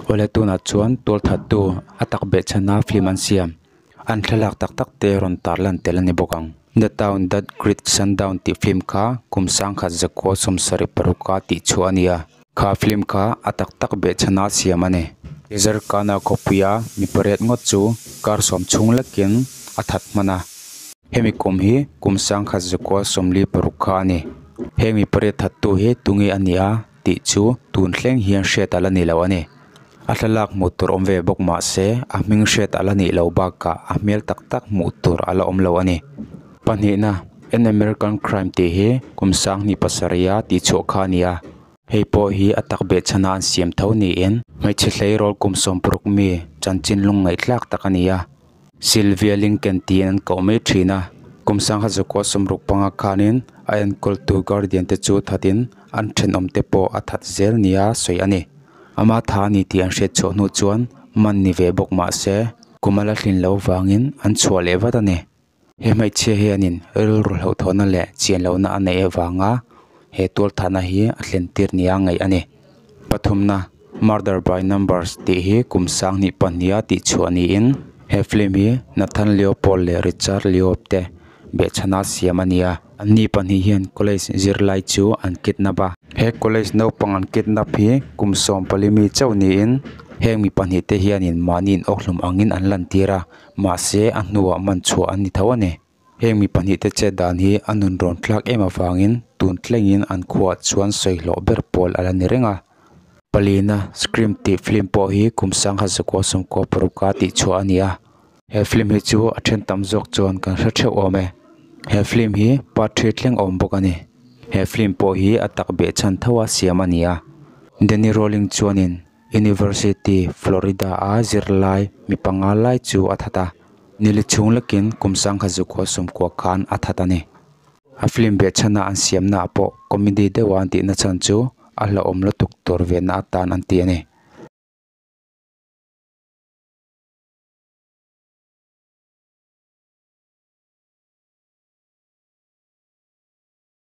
Awle tunah chuan tualthattu a tak behchhan a film an siam an thlalak tak tak te rawn tar lan tel a ni bawk ang. The Town That Greet Sundown tih film kha kum sangkhat zakua sawmsarih paruk a tihchhuah a ni a. Kha film kha a tak tak behchhan a siam a ni. Teaser kana khawpui a mi pariat ngawt chu kar sawm chhung lakin a that hman a. Hemi kum hi kum sangkhat zakua sawmli paruk kha a ni. Heng mi pariat thattu hi tunge a ni a tih chu tun hleng hian hriat alh ani loh a ni. A thlalak hmuh tur awm ve bawk mah se, a hming hriat alh anih loh bakah a hmel tak tak hmuh tur ala awm loh a ni. Pahnihna, An American Crime tih hi kum sanghnih pasarih a tih chhuah kha a ni a, hei pawh hi a takbeh chhana an siam tho niin hmeichhe hleirawl kum sawmpuruk mi chanchin lungngaih tlak tak a ni a. Sylvia Lincoln tiin an koh mai thin a, kum sangha Zukua sumruk panga khanin a enkawl tu Guardian te chu thatin an thenawm te pawh a that zel nia sawi a ni. Ama tha a ni tih an hriat chhuah hnu chuan man ni ve bawk mah se, kum a la hlin lo vangin an chhuah leh vat a ni. He hmeichhia hianin rilru hlauhtawhna leh chian lohna a neih avanga he tual thahna hi a thlen tir nia a ngaih a ni. Pathumna, Murder by Numbers tih hi kum sang hnih pahniha tih chhuah niin he film hi Nathan Leopold leh Richard Leob te behchhana siam a nia. An ni pahnih hian college zirlai chu an kidnap a. He college naupang an kidnap hi kum sawm pali mi chauh niin heng mi pahnih te hianin mahni inawk hlum angin an lantir a. Mahse, a hnuah man chhuah an ni tho a ni. Heng mi pahnih te chet dan hi a nun rawn thlak em avangin tun thlengin an khuah chuan sawi hlawh ber pawl a la ni reng a. Palina, Scream tih film pawh hi kum sangha zakua sawmkua paruka tih chhuah a ni a. He film hi chu a then tam zawk chuan kan hre theuh awm e. He film hi part three thleng a awm bawk a ni. He film pawh hi a takbeh chhan tho a siam a ni a. Denny Rawling chuanin University Florida a zirlai mi panga lai chu a that a, nili chhung lakin kum sangha zuk haw sum kuah khan a that a ni. A film beh chhana an siamnaah pawh comedy deuha an tihna chhan chu a hlauhawm lutuk tur venna atan an ti a ni.